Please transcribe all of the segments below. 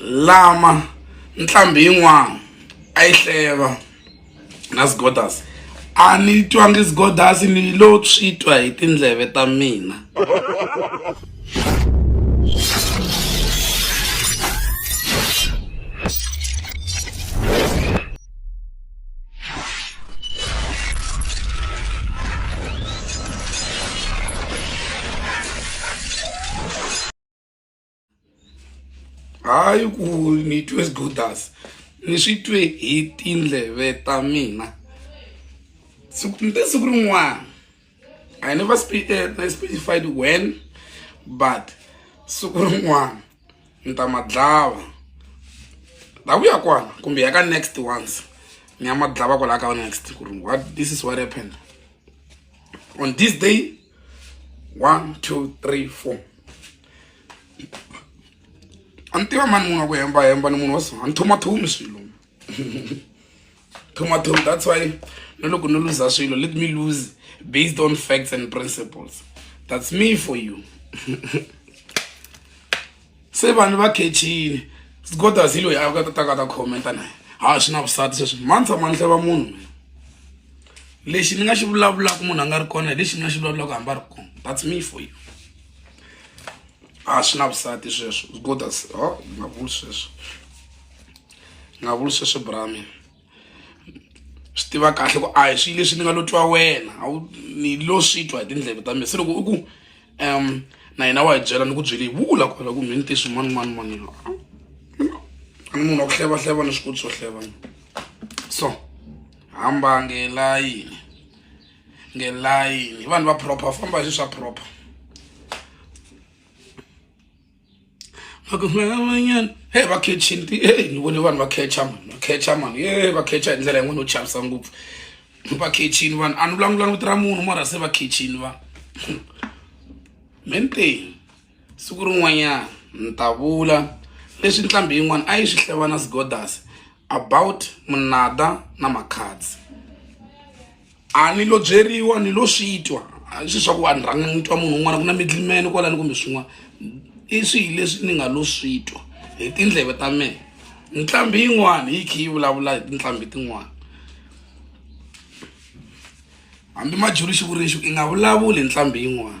lama ntlhambi yin'wana a yi hleva na sgodas a ni twangi sgodas ni lo swi twa hi tindleve ta mina hayi ku ni twe sgodas ni swi twe hi tindleve ta mina siku ni te siku rin'wana i never eh, specified when but siku rin'wana ni ta ma dlava la ku ya kwana kumbe ya ka next ones ni ya ma dlava kwalaya ka next ku ri what this is what happened on this day one two three four a ni tiva mani munhu wa ku hemba hemba ni munhu wa so a ni thomathomi swilo thomathomi that's why na loko ni luza swilo let me lose based on facts and principles that's me for you se vanhu va khexini sgodas hi loyi a ka tataka ta khomenta na ha swi na vusati sweswi mani tshama ni hleva munhu mina lexi ni nga xi vulavulaka munhu a nga ri kona hi lexi ni nga xi vulavulaka hambi a ri kona that's me for you a swi na vusati sweswo godas o nga vuli sweswo nga vuli sweswo brami swi tiva kahle ku a hi swilo leswi ni nga lo twa wena a wu ni lo swi twa hi tindleve ta mina se loko u ku um na hina wa hi byela ni ku byele hi vula kwala ku mheni tisi mani mani mani a ni munhu wa ku hleva hleva ni swikoti swo hleva so hamba ngelayini ngelayini vanhu va proper famba hi swi swa proper makumanyan he va khechini ti e ni vone vanhu va khecha mani va khecha mani e va khecha hi ndlela yin'wana yo chavisa ngopfu va khechini vanhu a ni vulavulanga vito ra munhu mara se va khechini vanhu menteni siku rin'wanyana ni ta vula leswi ntlhambi yin'wana a yi swi hlevana sigodas about munada na makhadzi a ni lo byeriwa ni lo swi twa a swi swa ku vanhu rhanga ni twa munhu un'wana ku na midlimene kwalani kumbe swin'wana i swihi leswi ni nga lo swi twa hi tindleve ta mehe nqambi yin'wana yi khe yi vulavula hi tinqambi tin'wana hambi majulu xivuriwixi i nga vulavuli hi nqambi yin'wana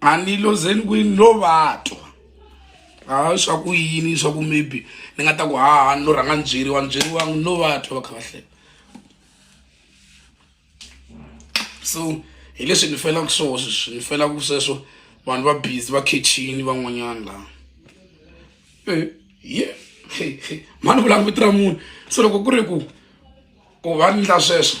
a ni lozeni kwini lo vatwa ha swa ku yini swa ku maybe ni nga ta ku haha ni lo rhanga ni byeriwa ni byeriwangi ni lo vatwa va kha va hlela so hi leswi ni felaka swona sweswi ni felaka sweswo vanhu va busy va khechini van'wanyana laha eh, ye mani vulanga vito ra munhu so loko ku ri ku ku va ni ndla sweswo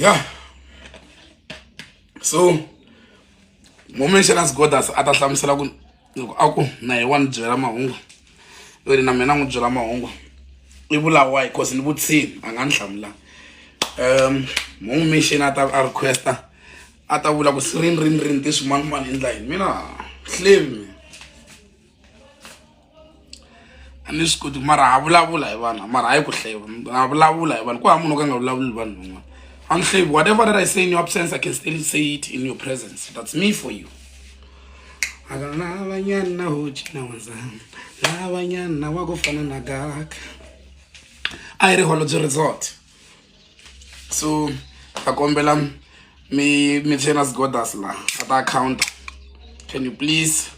ya so momenxana sigodas a ta hlamusela ku loko a ku na hi wa ni byela mahungu yo ri na mina n'wi byela mahungu i vulawa hi cause ni vutshini a nga ni hlamula um mungu mixini a ta a requesta a ta vula ku sirini rini rini ti swimanimani endla yini mina hlemi a ni swi koti mara ha vulavula hi vanhu mara hayi ku hleva ha vulavula hi vanhu ku hava munhu o ka nga vulavuli hi vanhu van'wana I'm slave. Whatever that I say in your absence, I can still say it in your presence. That's me for you. akanavanyana hoci na wanzama lavanyana wa ku fana na gaka a yi ri holobye resort so ta kombela mi mi chainas godas la a ta account can you please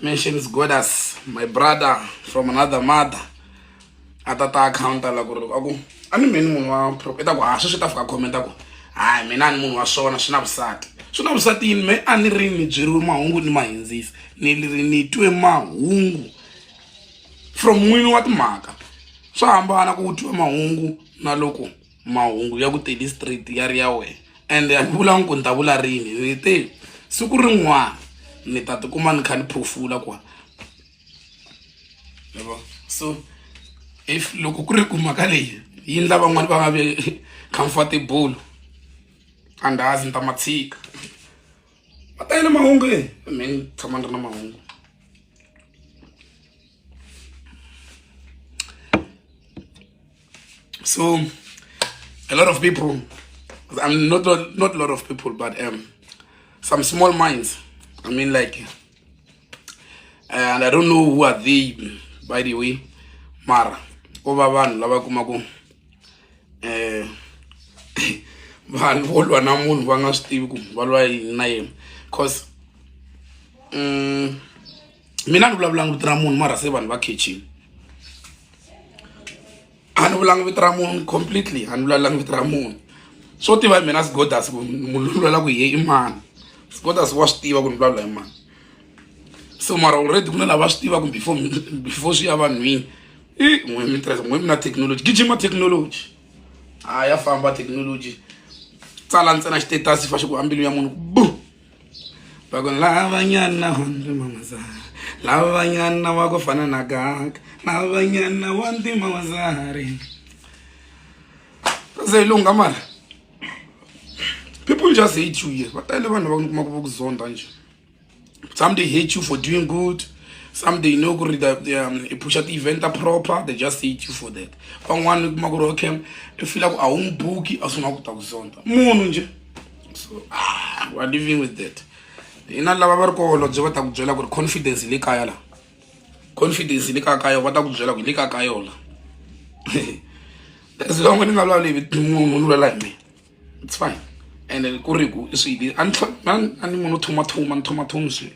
mentions godas my brother from another mother a ta ta account la ku ri a ku a ni mheni munhu wa i ta ku ha sweswi ta fika comment a ku hayi mina a ni munhu wa swona swi na vusati swi na vusati yini me a ni ri ni byeriwe mahungu ni ma hindzisa ni ri ni twe mahungu from n'wini wa timhaka swa hambana ku twiwa mahungu na loko mahungu ya ku tele straight ya ri ya wena ende a ni vulangi ku ni ta vula rini ni te siku rin'wana ni ta tikuma ni kha ni phofula kwa so if loko ku ri ku mhaka leyi yi ndla van'wani va nga vi comfortable andazi ni ta matshika va tele mahungu e me ni tshama ni ri na mahungu so a lot of people i'm not not a lot of people but um some small minds i mean like and i don't know who are they by the way mara ko va vanhu lava kumaku um eh, vanhu vo lwa na munhu va nga swi tivi ku va lwa yini na yena cause um mina ni vulavulanga vito ra munhu mara se vanhu va khechini a ni vulanga vito ra munhu completely a ni vulavulanga vito ra munhu swo tiva hi mina sigodas ku munhu lwela ku ye i mani sigodas wa swi tiva ku ni vulavula hi mani so mara already ku na lava swi tivaka before before swi ya vanhwini i n'we mi tirhisa n'we mi na technology gijima technology a ya famba technology tsala ntsena xitetasi fa xi ku ambilu ya munhu bu loko lavanyana wa ntima mazari lavanyana wa ku fana na gaka lavanyana wa ntima mazari se yi lungha mara people just hate you here va tele vanhu va kuma ku va ku zonda njhe some they hate you for doing good some they know ku ri um, i pusha ti-event proper they just hate you for that van'wana kuma ku ri okay i fila ku a wu n'wi buki a sungula ku ta ku zonda munhu njhe so ah, we're living with that hina lava va ri koholobye va ta ku byela ku ri confidence hi le kaya la confidence hi le kaya ka yona va ta ku byela ku hi le kaya ka yona that's long ni nga vulavuli hi munhu ni vulela hi mina it's fine and ku ri ku i swili a ni munhu thumathuma ni thumathumi swilo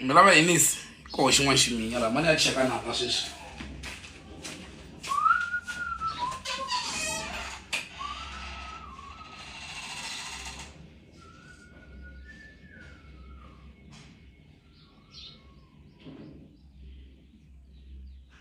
mi lava yinisi koho xin'wana ximinya laha mani ya cheka nanga sweswi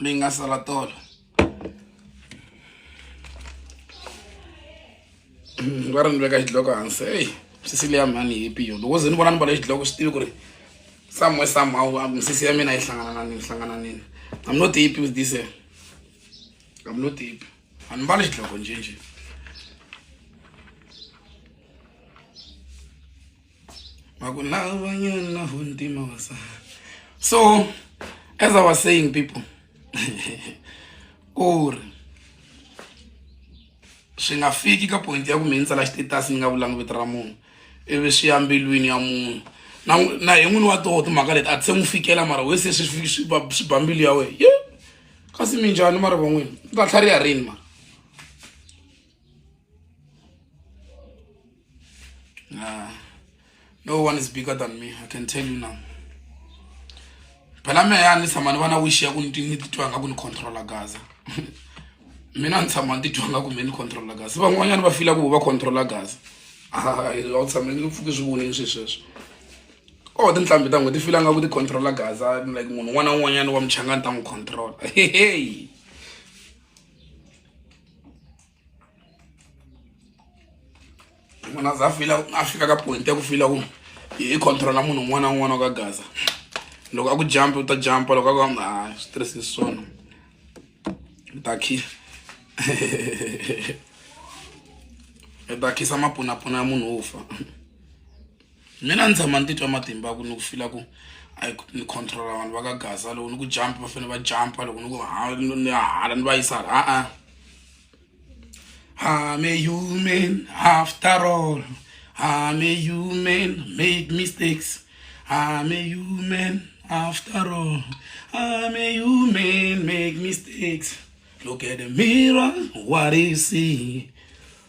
mi nga sala tolo va ri ni veka xidloko hansi eyi misisi leya mhani hi piyo loko ze ni vona ni vale xidloko swi tivi ku ri somewhere somehow ah, misisi ya mina yi hlangana na nini hlangana nini i'm not happy with this eh. i'm not happy a ni mbali xidloko njhenjhe so as i was saying people ku ri swi nga fiki ka point ya ku mi ni tsala xitetasi ni nga vulangi vito ra munhu ivi swi ya mbilwini ya munhu na na hi n'wini wa toho timhaka leti a ti se n'wi fikela mara we se swi swi ba mbilu ya wena ye kasi minjhani mara van'wini ni ta tlhariha rini mara Nah. No one is bigger than me. I can tell you now. phela me ya ni tshama ni va na wish ya ku ni titwa nga ku ni controla gaza mina ni tshama ni titwa nga ku me ni controla gaza van'wanyana va fila ku va controla gaza a wu tshame ni pfuki swi vonini swi sweswo o tinhlambi ta n'wi ti fila nga ku ti controla gaza like munhu un'wana na un'wanyana wa muchangani ta n'wi controla hehe munhu a za fila a fika ka point ya ku fila ku i controla munhu un'wana na un'wana wa ka gaza loko a ku jump u ta jumpa loko a ku hamba a swi tirhisi swona u ta khi u ta khisa mapunapuna ya munhu wo fa mina ni tshama ni titwa matimba ya ku ni ku fila ku a ni controla vanhu va ka gaza loko ni ku jump va fanele va jump loko ni ku ni ya hala ni va yisa hala a-a I'm a human after all I'm a human make mistakes I'm a human after all I'm a human make mistakes look at the mirror what do you see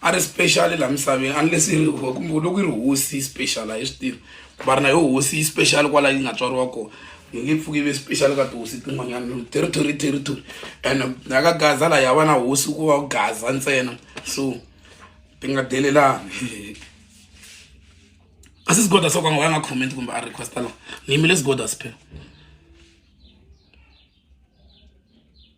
a ri special laha misaveni unless yi ri kumbe loko yi ri hosi yi special a hi swi tivi va ri na yo hosi yi special kwala yi nga tswariwa kona yi nge pfuki yi ve special ka tihosi tin'wanyana territory territory and na ka gaza laha ya va na hosi ku va gaza ntsena so ti nga delelani a si sigoda so ka nga va nga comment kumbe a requesta laha ni yimile sigoda siphela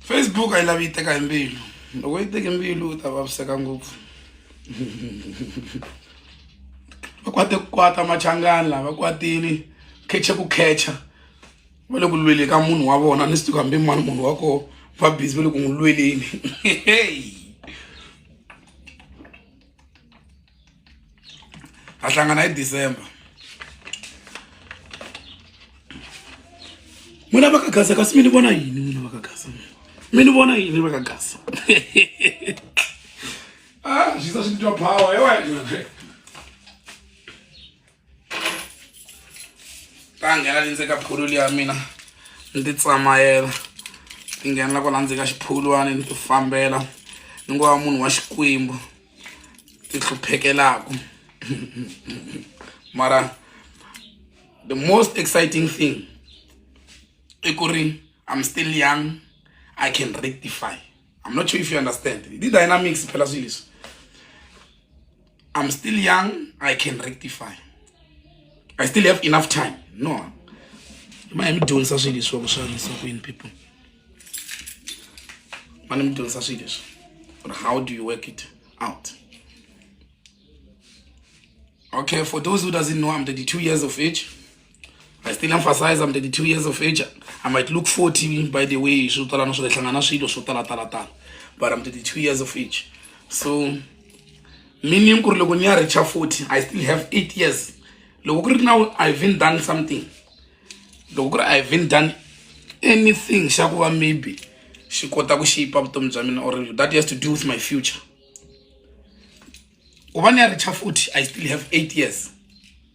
Facebook a yi lavi yi teka hi mbilu loko yi teke mbilu u ta vaviseka ngopfu va kwate ku kwata machangani lava kwatini kheche ku khecha va le ku lweli ka munhu wa vona ni swi tiku hambi mani munhu wa koho va busy va le ku n'wi lweleni ha hlangana hi december n'wina va ka gasa kasi mi ni vona yini n'wina va ka gasa mi ni vona yini va ka gasa ah xisa swi titwa power hi wena ta nghena le ndzeni ka phulu liya mina ni ti tsamayela ti nghena la ku la ndzeni ka xiphulwani ni ti fambela ni ngo va munhu wa xikwembu ti hluphekelaku mara the most exciting thing i ku ri i'm still young i can rectify i'm not sure if you understand the dynamics phela silis i'm still young i can rectify i still have enough time no manje midyondzisa swilo leswi vakuxanisa kwini people mane midyondzisa swilo leswi or how do you work it out okay for those who doesn't know i'm 32 years of age I still emphasize I'm 32 years of age. I might look 40 by the way, swo tala na swo hlangana swilo swo tala tala tala. But I'm 32 years of age. So meaning ku ri loko ni ya reach 40, I still have 8 years. Loko ku ri now I've been done something. Loko ku ri I've been done anything xa ku va maybe xi kota ku shape vutomi bya mina or that has to do with my future. Ku va ni ya reach 40, I still have 8 years.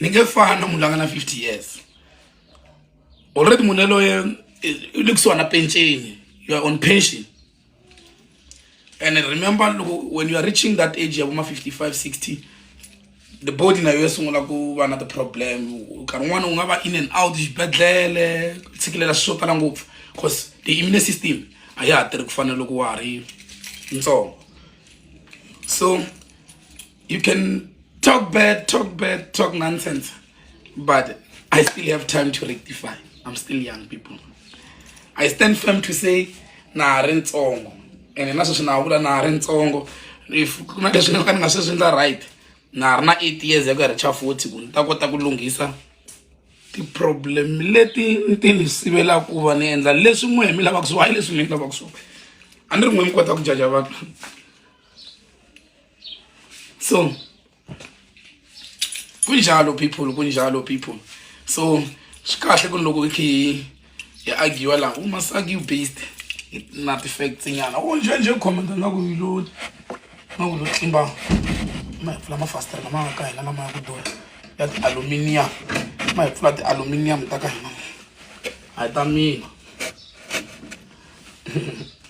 ni nge fani na munhu la nga na 50 years already munhu yaloye u le kusuhana penceni you are on pension and remember loko when you are reaching that age ya voma 55 60 the body nayo ya sungula ku va na ti-problem nkarhi wun'wana u nga va in and out xibedhlele tshikilela swi swo tala ngopfu because the immune system a ya ha tirhi ku fana loko wa ha ri ntsongo so You can talk bad, talk bad, talk nonsense, but I still have time to rectify. I'm still young people. I stand firm to say, na ri ntsongo ene na sweswi na vula na ri ntsongo if ku na leswi ni ka ni nga sweswi ndza right na ri na eight years ya ku ya richa forty ku ni ta kota ku lunghisa ti-problem leti ni ti ni sivelaka ku va ni endla leswi n'we mi lavaka swona hayi leswi mi ni lavaka swona a ni ri n'we mi kota ku jaja vanhu so kunjalo people kunjalo people so swi kahle ku ni loko i khe hi hi agiwa laha u must argue based na ti-facts nyana o njhe njhe commenta nga ku lo nga ku lo tlimba ma hi pfula mafasitara lama nga ka hina lama ya ku durha ya ti-aluminium ma hi pfula ti-aluminium ta ka hina a hi ta mina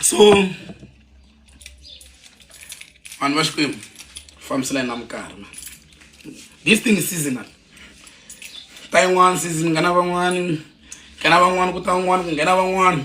so vanhu va xikwembu fambiselani na minkarhi ma this thing is seasonal ta yin'wana season nghena van'wani nghena van'wani ku ta van'wani ku nghena van'wani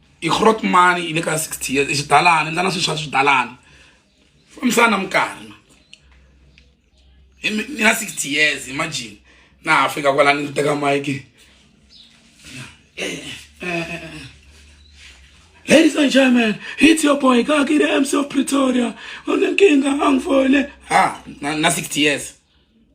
i grot mani yi le ka sixty years i xidalani ni tana swilo swa swidalani fambisana na minkarhi na ni na sixty years imagine na ha fika kwala ni teka mike Ladies and gentlemen, it's your boy Kaki the MC of Pretoria. On the king, I'm for it. Ah, na, na 60 years.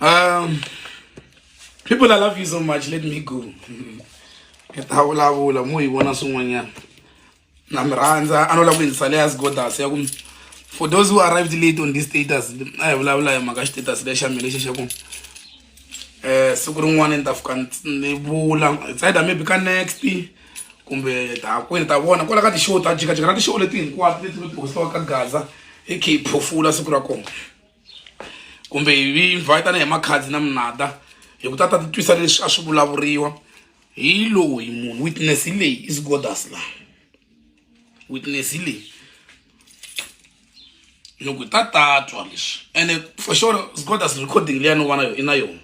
Um, people, I love you so much. Let me go. Hi ta vulavula mo hi vona swin'wanyana na mi rhandza a no lava ku yindzisa leya sigodas ya ku for those who arrived late on this status a hi vulavula hi mhaka xitatus lexa mina lexi xa ku eh siku rin'wana ni ta fika ni vula it's either maybe ka next kumbe ta hakwini ta vona kwala ka ti-show ta jikajika na ti-show leti hinkwato leti mi postiwa ka gaza hi khe hi phofula siku ra kona kumbe hi invite na hi makhadzi na minada hi ku ta ta titwisa leswi a swi vulavuriwa hi loyi munhu witness hi leyi is godas laha witness leyi loko ta tatwa leswi ene for sure scotas recording leya no vana yo i na yona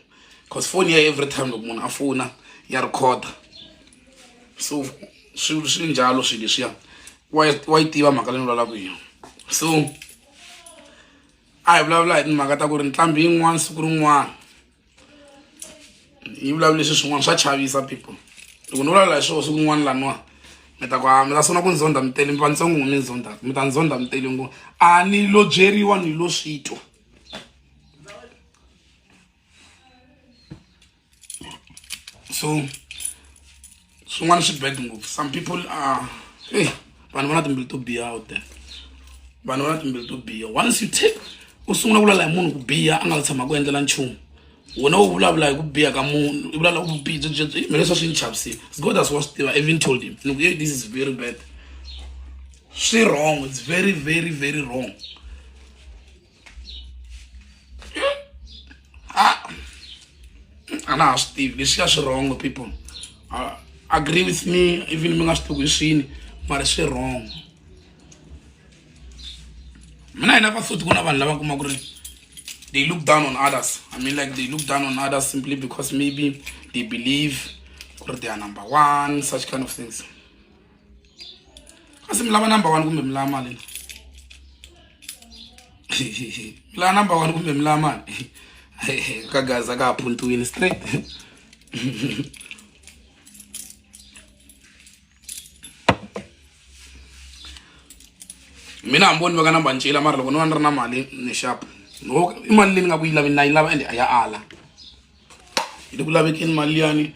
cause foni ya every time loko munhu a fona ya rhikhoda so swi swi njalo swilo leswiya wa yi tiva mhaka leyi ni vulavulaka hi yona so a hi vulavula hi timhaka ta ku ri ntlhambi yin'wana siku rin'wana yi vulavula leswi swin'wana swa chavisa people loko ni vulavula hi swona siku n'wana laniwani mi ta ku a mi ta sungula ku ni zonda mi tele mi va ntsongo mi ni zonda mi ta ni zonda mi tele ngo a ni lo byeriwa ni lo swi twa so swin'wana swi bad ngopfu some people are hey, vanhu va na timbilu to biha out there vanhu va na timbilu to biha once you take u sungula ku lala hi munhu ku biha a nga la tshama ku endlela nchumu wena u vulavula hi ku biha ka munhu u vulavula ku bihi byebyebye mina leswa swi ni chavisile god as wa swi tiva even told him ni ku hey, this is very bad swi wrong it's very very very wrong ah. a na ha swi tivi leswi ya swi wrong people uh, agree with me even mi nga swi tivi hi swini mara swi wrong mina hi na va futhi ku na vanhu lava kuma ku ri they look down on others i mean like they look down on others simply because maybe they believe ku ri they are number one such kind of things asi mi lava number one kumbe mi lava mali mi lava number one kumbe mi lava mali ka gaza ka ha phuntiwini straight mina hamboni va ka namba ncila mara loko ni va ni ri na mali ni xapu i mali leyi ni nga ku yi lavi na yi lava ende a ya ala hi le ku lavekeni mali liyani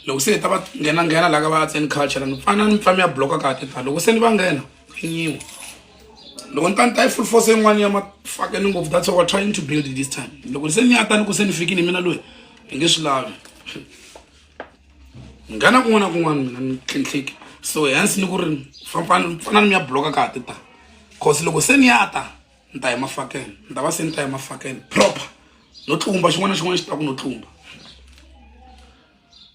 loko se hi ta va nghena nghena laha ka va arts and culture ni pfana ni pfami ya bloka kahle ta loko se ni va nghena nyiwa loko ni ta ni ta yi full force yin'wana ya mafakeni ngopfu that's what we're trying to build this time loko se ni ya ta ni ku se ni fikini hi mina loyi hi nge swi lavi nghena kun'wana na kun'wana mina ni tlhintlhiki so hence ni ku ri fambani fanani mi ya bloka ka ha ti ta cause loko se ni ya ta ni ta ya emafakeni ni ta va se ni ta ya emafakeni proper no tlumba xin'wana na xin'wana xi ta ku no tlumba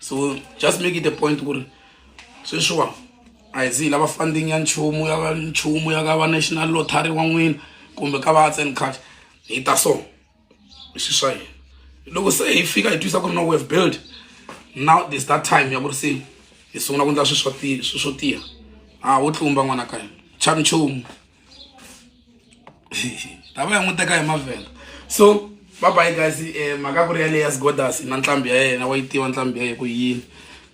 so just make it a point ku ri sweswiwa a hi zi lava funding ya nchumu ya nchumu ya ka va national lottery wa n'wina kumbe ka va arts and craft hi ta so i swi swa yena loko se hi fika hi twisa ku ri no we have built now this that time ya ku ri se hi sungula ku endla swi swo tiya swi swo tiya a wo tlumba n'wana ka hina cha nchumu tava ya n'wi teka hi mavhenda so babayi guys um mhaka ku ri yaleyi ya sgodas na ntlhambi ya yena wa yi tiva ntlhambi ya ye ku yini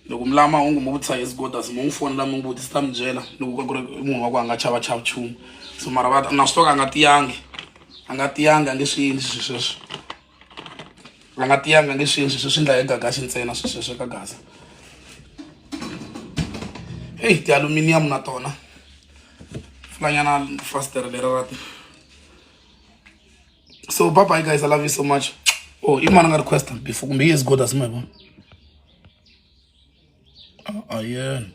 loko mi lava mahungu mi vutisa hi sgodas mi n'wi fonela mi n'wi vutisa ta mi byela ni ku ka ku ri munhu wa ku a nga chava chava chumu so mara va na swi toka a nga tiyangi a nga tiyangi a nge swi yini swi sweswo a nga tiyanga nge sweswi swi swi ndla hi gagasi ntsena swi sweswe ka gasa eyi ti-aluminium na tona fulanyana fastere lera ra ti so papa hi guys i love you so much oh i mani nga request before kumbe yi is good asi ma hi vona ah, ayena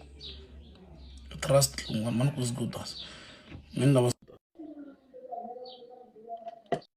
trust mani ku is good as mini lava